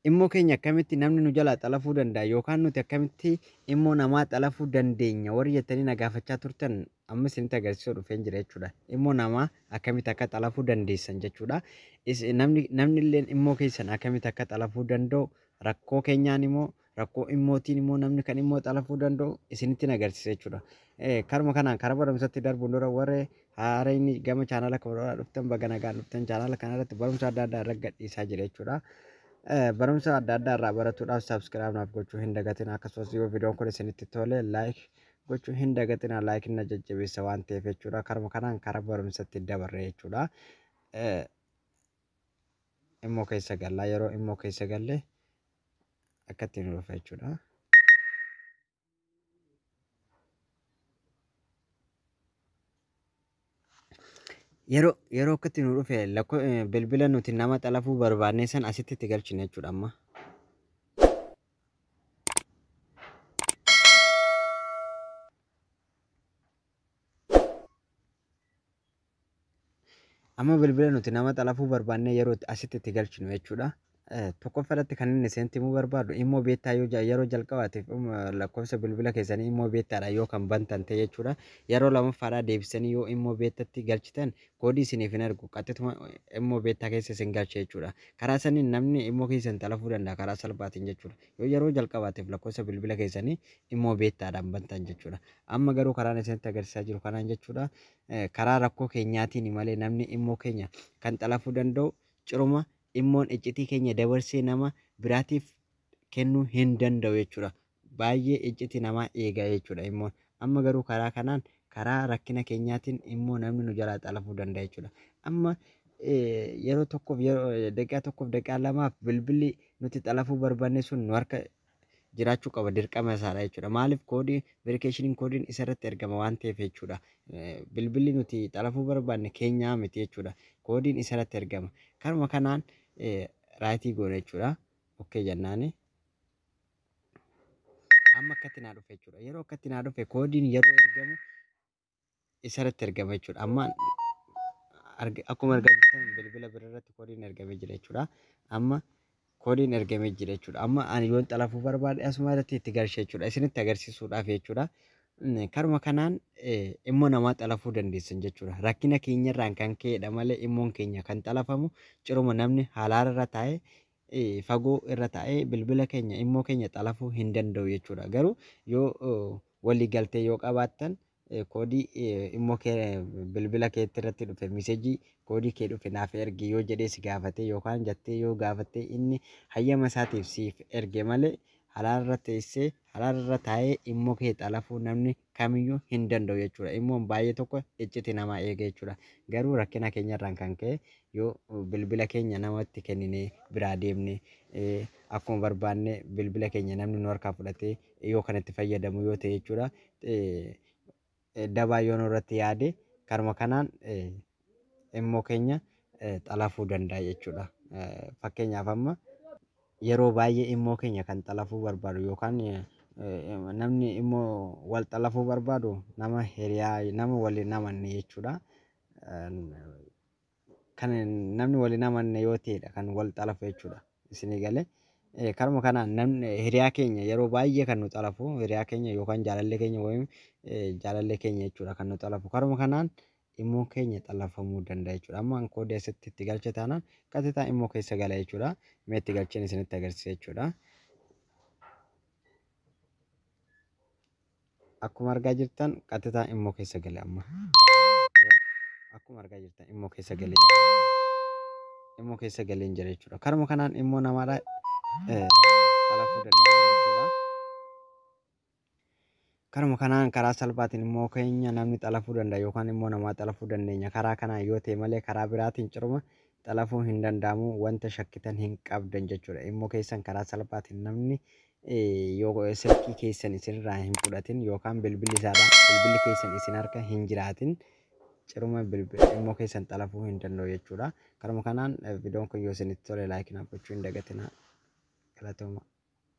Immoo keenya akkamitti namni nu jalaa xalafuu danda'a yookaan nuti akkamitti immoo namaa xalafuu dandeenya warri jettanii na gaafachaa turtan amma isinitti agarsiisuu dhufeen jira jechuudha. Immoo namaa akkamitti akka xalafuu dandeessan jechuudha. Namni illee immoo keessan akkamitti akka xalafuu danda'u rakkoo keenyaan immoo rakkoo immootiin immoo namni kan immoo xalafuu danda'u isinitti agarsiisa jechuudha. Karuma kanaan karaa barumsatti darbuun dura warri haarayni gama chaanala kanarraa dhuftan baga nagaan dhuftan chaanala kanarratti barumsa adda addaa irra gadhiisaa jira jechuudha. Barumsa adda addaa irraa baratuudhaaf saabskiraayib naaf gochuu hin dagatin akkasumas yoo viidiyoon kun isinitti tole laayik gochuu hin dagatina laayik na jajjabeessa waan ta'eef jechuudha. Karuma kanaan karaa barumsatti dabarre jechuudha. immoo keessa galla yeroo immoo keessa galle akka ittiin nu dhufa jechuudha. Yeroo yeroo akka ittiin nu dhufe lakkoo bilbila nuti nama xalafuu barbaadne san asitti itti galchina jechuudha amma. Amma bilbila nuti nama xalafuu barbaannee yeroo itti asitti itti galchinu jechuudha. Eh, Tokkoffaa irratti kan inni isinitti himuu barbaadu immoo beektaa yoo ja- yeroo jalqabaatiif um, lakkoofsa bilbila keessanii immoo beektaadha yoo kan bantan ta'e jechuudha. Yeroo lammaffaadhaa deebisanii yoo immoo beektatti galchitan koodii isiniif hin ergu qaxxituma immoo beektaa keessa isin galcha jechuudha. Karaa saniin namni immoo keessan xalafuu danda'a karaa salphaatiin jechuudha. Yoo yeroo jalqabaatiif lakkoofsa bilbila keessanii immoo beektaadhaan bantan jechuudha. Amma garuu karaan isinitti agarsiisaa jiru kanaan jechuudha. karaa rakkoo keenyaatiini malee namni immoo keenya kan xalafuu danda'u ciruma immoon iccitii keenya dabarsee nama biraatiif kennuu hin danda'u jechuudha. Baay'ee icciti namaa eega jechuudha immoon. Amma garuu karaa kanaan karaa rakkina keenyaatiin immoo namni nu jalaa xalafuu danda'a jechuudha. Amma yeroo tokkoof daqiiqaa tokkoof daqiiqaa lamaaf bilbilli nuti xalafuu barbaanne sun nu harka jiraachuu qaba dirqama isaadha jechuudha. Maaliif koodii verikeeshiniin koodiin isa irratti ergama waan ta'eef jechuudha. Bilbilli nuti xalafuu barbaanne keenyaa miti jechuudha. Koodiin isa irratti ergama. Kanuma kanaan raayitii goona jechuudha. Okkee jennaani. Amma akkatti naa dhufe jechuudha. Yeroo akkatti naa dhufe koodiin yeroo ergamu isarratti ergama jechuudha. Amma akkuma argaa jirtan bilbila bira irratti koodiin ergamee jira jechuudha. Amma koodiin ergamee jira jechuudha. Amma ani yoon xalafuu barbaade asuma irratti itti galcha jechuudha. Isinitti agarsiisuudhaaf jechuudha. Karuma kanaan immoo namaa xalafuu dandeessan jechuudha. Rakkina keenyarraan kan ka'edha malee immoon keenya kan xalafamu ciruma namni halaarra taa'e fagoo irra taa'ee bilbila keenya immoo keenya xalafuu hin danda'u jechuudha. Garuu yoo walii galtee yoo qabaattan koodii immoo kee bilbila keetti irratti dhufe miseejii koodii kee dhufe naaf ergi yoo jedhee si gaafatee yookaan jattee yoo gaafattee inni hayyama isaatiif siif erge malee halaal irra teessee halaal irra taa'ee immoo kee xalafuu namni kamiyyuu hin danda'u jechuudha. Immoon baay'ee tokko icciti namaa eega jechuudha. Garuu rakkina keenyarraan kan ka'e yoo bilbila keenya namatti kenninee biraa deemne akkuma barbaanne bilbila keenya namni nu harkaa fudhatee yoo kan itti fayyadamu yoo ta'e jechuudha. Dabaa yoo nurratti yaade karuma kanaan immoo keenya xalafuu danda'a jechuudha. Fakkeenyaaf amma yeroo baay'ee immoo keenya kan xalafuu barbaadu yookaan namni immoo wal xalafuu barbaadu nama hiriyaa nama wal hin amanne jechuudha. Kan namni wal hin amanne yoo ta'edha kan wal xalafu jechuudha. Isinii galee? Karuma kanaan namni hiriyaa keenya yeroo baay'ee kan nu xalafu hiriyaa keenya yookaan jaalallee keenya wayim jaalallee keenya jechuudha kan nu xalafu. Karuma kanaan Imo keenya xalafamuu danda'a jechuudha. Amma an koodii asitti itti galche taanaan qaxitaa imo keessa gala jechuudha. Mee itti galcheen isinitti agarsiisa jechuudha. Akkuma argaa jirtan qaxitaa imo keessa gale amma. Akkuma argaa jirtan imo keessa galee imo keessa galee jira jechuudha. Karuma kanaan immoo namaadha xalafuu dandeenya jechuudha. Karuma kanaan karaa salphaatiin immoo keenya namni xalafuu danda'a yookaan immoo namaa xalafuu dandeenya. Karaa kanaan yoo ta'e malee karaa biraatiin ciruma xalafuu hin danda'amu wanta shakkitan hin qabdan jechuudha. Immoo keessan karaa salphaatiin namni yoo silkii keessan isinirraa hin fudhatin yookaan bilbilli isaadha bilbilli keessan isin harka hin jiraatin ciruma immoo keessan xalafuu hin danda'u jechuudha. Karuma kanaan viidiyoon kun yoo isinitti tole laayikii naaf gochuu hin dagatinaa. Galatooma.